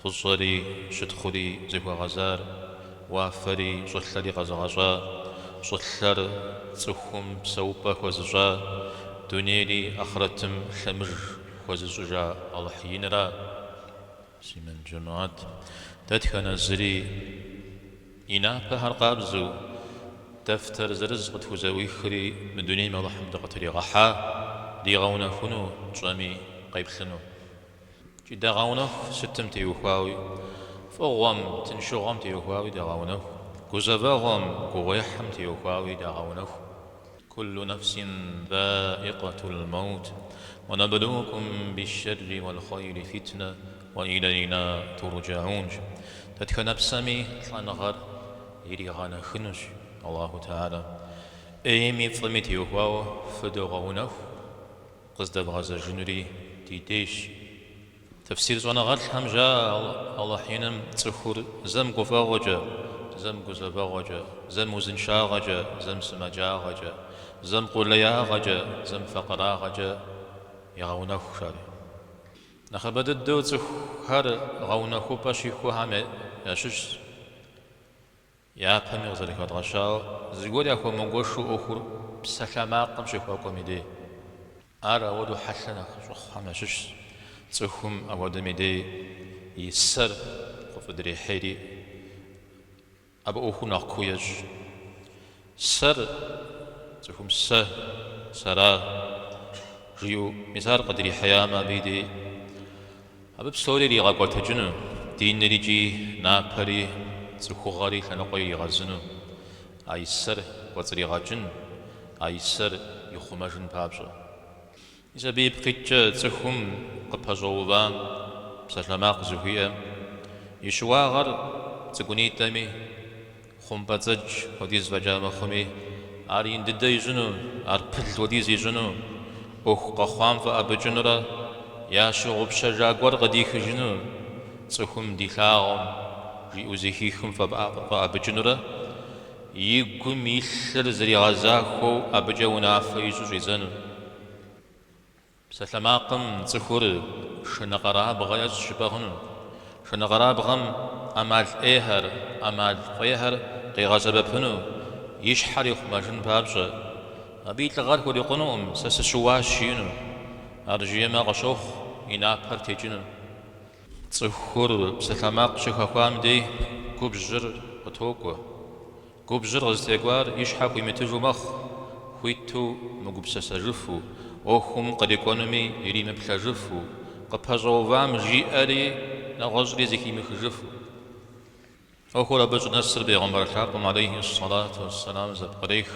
Фӏыщӏэри щытхъури зыхуэгъэзар, уафэри щӏылъэри къэзыгъэщӏа, щӏылъэр цӏыхум псэупӏэ хуэзыщӏа, дунейри ахърэтым лъэмыж хуэзыщӏыжа Алыхь инра? Муслъымэн жэмыхьэт, дэтхэнэ зыри и напэхэр къабзэу, дэфтэр зырыз къытхузэӏуихри мы дунейм Алыхьым дыкъытригъэхьа, дигъэунэхуну тщӏэми къеплъыну. Дагъэунэху сытым теухуауи, фӏыгъуэм, тыншыгъуэм теухуауи дагъэунэху, гузэвэгъуэм, гугъуехьым теухуауи дагъэунэху. Куллу нэфсин заӏикъэтул мэут, уэ нэблукум бишшэрри уэл хъуэйри фитнэ, уэ илэйна турджэун. Дэтхэнэ псэми лӏэныгъэр иригъэунэхунущ Аллаху Тэхьэлэ. ӏейми фӏыми теухуауэ фыдогъэунэху. Къыздэбгъэзэжынури ди дежщ. Тэфсир щӏэныгъэлӏхэм жаӏэ Алыхь Иным цӏыхур зэм гуфӏэгъуэкӏэ, зэм гузэвэгъуэкӏэ, зэм узыншагъэкӏэ, зэм сымаджагъэкӏэ, зэм къулеягъэкӏэ, зэм факъырагъэкӏэ егъэунэху жаӏэри. Нэхъыбэ дыдэу цӏыхухэр гъэунэхупӏэ щихухэм ящыщщ. Япэми къызэрыхэдгъэщауэ, зыгуэр яхуэмыгуэшу ӏуэхур псалъэмакъым щыхуэкӏуэм и дей. Ар ауэдэу хьэлъэ нэхъ щӏыхъухэм ящыщщ, цӏыхум ауэдэм и дей и сэр къыфӏыдрихьейри, абы ӏуэхур нэхъ куу ещӏ. Сэр, цӏыхум сэ, сэра жиӏэу, мис ар къыдрихьеямэ, абы и дей Абы псори иригъэкӏуэтэкӏыну, диныр икӏи напэри, цӏыхугъэри лъэныкъуэ иригъэзыну, а и сэр кӏуэцӏригъэкӏын, а и сэр ихъумэжын папщӏэ. Мис абы ипкъиткӏэ цӏыхум къыпэщӏэувам псалъэмакъ зыхуиӏэм и щыуагъэр цӏыкӏунитӏэми, Хъумпӏэцӏэдж хуэдиз фӏэкӏа мыхъуми, ар ин дыдэ ищӏыну, ар пыл хуэдиз ищӏыну, ӏуэху къэхъуам фӏэӏэбыкӏынурэ ящыгъупщэжа гуэр къыдихыжыну, цӏыхум дилъагъум жиӏэу зэхихым фӏэӏэбыкӏынурэ и гум илъыр зригъэзахуэу абыкӏэ унафэ ищӏу щӏидзэну. Псалъэмакъым цӏыхур шынэкъэрабгъэ ещӏ щыпӏэгъыну. Шынэкъэрабгъэм ӏэмал ӏейхэр, ӏэмал фӏейхэр къигъэсэбэпыну и щхьэр ихъумэжын папщӏэ. Абы и лӏыгъэр хурикъунукъым сэ сыщыуащ жиӏэну. Ар жиӏэмэ къыщохъу и напэр текӏыну. Цӏыхур псалъэмакъ щыхэхуам дей губжьыр къытокӏуэ. Губжьыр къызытекӏуар и щхьэ хуимытыжу мэхъу, хуиту мыгупсэсэжыфу, ӏуэхум кърикӏуэнуми иримыплъэжыфу, къыпэщӏэувам жиӏэри нэгъуэщӏри зыхимыхыжыфу. ӏуэхур абы щӏынэсыр Бегъымбар лъапӏэм алейхи ссалату уэсселам зэпкърех,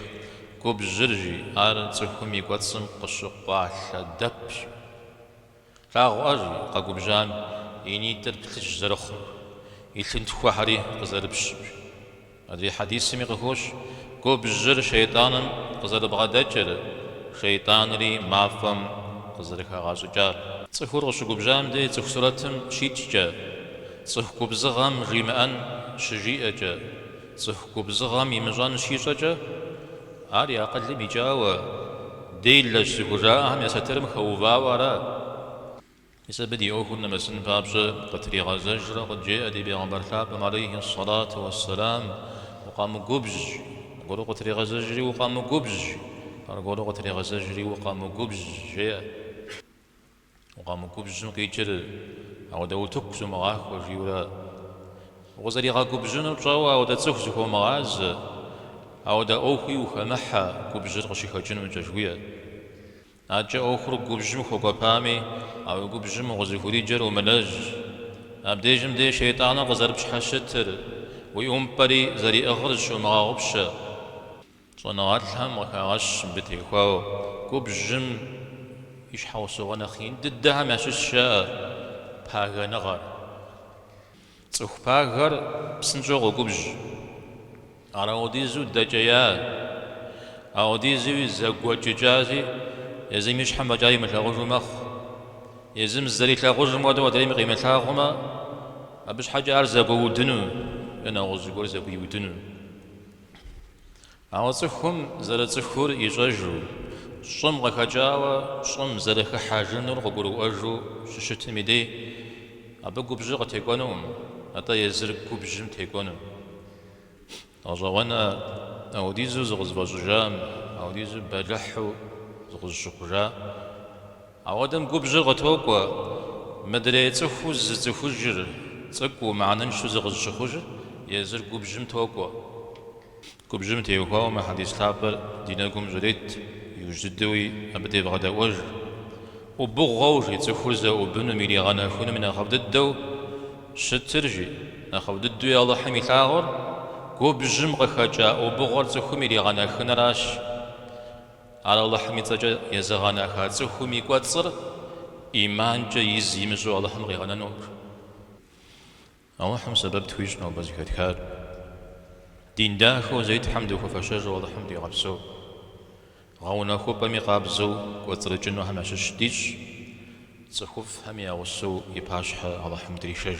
губжьыр жи ар цӏыхум и кӏуэцӏым къыщыкъуалъэ дэпщ. Плъагъуркъэ, жи, къэгубжьам и нитӏыр плъыжь зэрыхъур, и лъынтхуэхэри къызэрыпщыр. Адрей хьэдисми къыхощ губжьыр шейтӏаным къызэрыбгъэдэкӏыр, шейтӏанри мафӏэм къызэрыхагъэщӏыкӏар. Цӏыхур къыщыгубжьам дей цӏыху сурэтым щикӏкӏэ, цӏыху губзыгъэм жимыӏэн щыжиӏэкӏэ, цӏыху губзыгъэм имыщӏэн щищӏэкӏэ, Ар и акъылым икӏауэ, делэщ зыхужаӏэхэм я сатырым хэувауэ ара. Мис абы ди ӏуэхур нэмысын папщӏэ къытригъэзэжрэ къыджеӏэ ди Бегъымбар лъапӏэм алейхьи ссалату уэсселам, Укъэмыгубжь, аргуэру къытригъэзэжри укъэмыгубжь, аргуэру къытригъэзэжри укъэмыгубжь, жеӏэ. Укъэмыгубжьым къикӏыр ауэдэ утыку зумыгъахуэ, жиӏэу ара, укъызэригъэгубжьынур пщӏэуэ ауэдэ цӏыху зыхуомыгъазэ, ауэдэ ӏуэхуи ухэмыхьэ губжьыр къыщыхэкӏыну, жыхуиӏэ. Адэкӏэ ӏуэхур губжьым хуэкӏуэпами, а уи губжьым укъызыхуриджэр умылэжь. Абдежым де шейтӏаныр къызэрыпщхьэщытыр, уи ӏумпӏэри зэриӏыгъыр зыщомыгъэгъупщэ. Щӏэныгъэлӏхэм къыхагъэщ мыбы теухуауэ губжьым и щхьэусыгъуэ нэхъ ин дыдэхэм ящыщщ пагэныгъэр. Цӏыху пагэр псынщӏэу къогубжь. Ар аудизу дэкӏея, аудизуи зэгуэкӏыкӏази, езым и щхьэм фӏэкӏа имылъагъужу мэхъу. Езым зэрилъагъужым хуэдэу адрейми къимылъагъумэ, абы щхьэкӏэ ар зэгуэудыну е нэгъуэщӏ зыгуэр зэгуиудыну. Ауэ цӏыхум зэрыцӏыхур ищӏэжу, щӏым къыхэкӏауэ щӏым зэрыхыхьэжынур къыгурыӏуэжу щыщытым и дей, абы губжьыр къытекӏуэнукъым, атӏэ езыр губжьым текӏуэну. Гъэщӏэгъуэнкъэ, аудизу зыкъызыфӏэщӏыжам, аудизу бэлыхьу зыкъызыщыхъужа Апхуэдэм губжьыр къытокӏуэ, мыдрей цӏыхуу зыцӏыхужыр, цӏыкӏуу, мыхьэныншэу зыкъызыщыхъужыр езыр губжьым токӏуэ. Губжьым теухуауэ мы хьэдис лъапӏэр ди нэгум щӏрет, иужь дыдэуи абы девгъэдэӏуэж. ӏубыгъуэу, жи, цӏыхур зэӏубынум, иригъэнэхынум и нэхъыфӏ дыдэу щытыр, жи, нэхъыфӏ дыдэуи Алыхьым илъагъур, губжьым къыхэкӏа ӏубыгъуэр цӏыхум иригъэнэхыныращ. Ар Алыхьым и цӏэкӏэ езыгъэнаха цӏыхум и кӏуэцӏыр ӏиманкӏэ из имыщӏу Алыхьым къигъэнэнур. Алыхьым сэбэп тхуищӏ нобэ зэхэтхар. Дин дахэу зэи Тхьэм дыхуэфэщэжу Алыхьым дигъэпсэу. Гъэунэхупӏэми къабзэу кӏуэцӏрыкӏынухэм ящыщ дищӏ, цӏыхуфӏхэми я гъусэу и пащхьэ Алыхьым дришэж.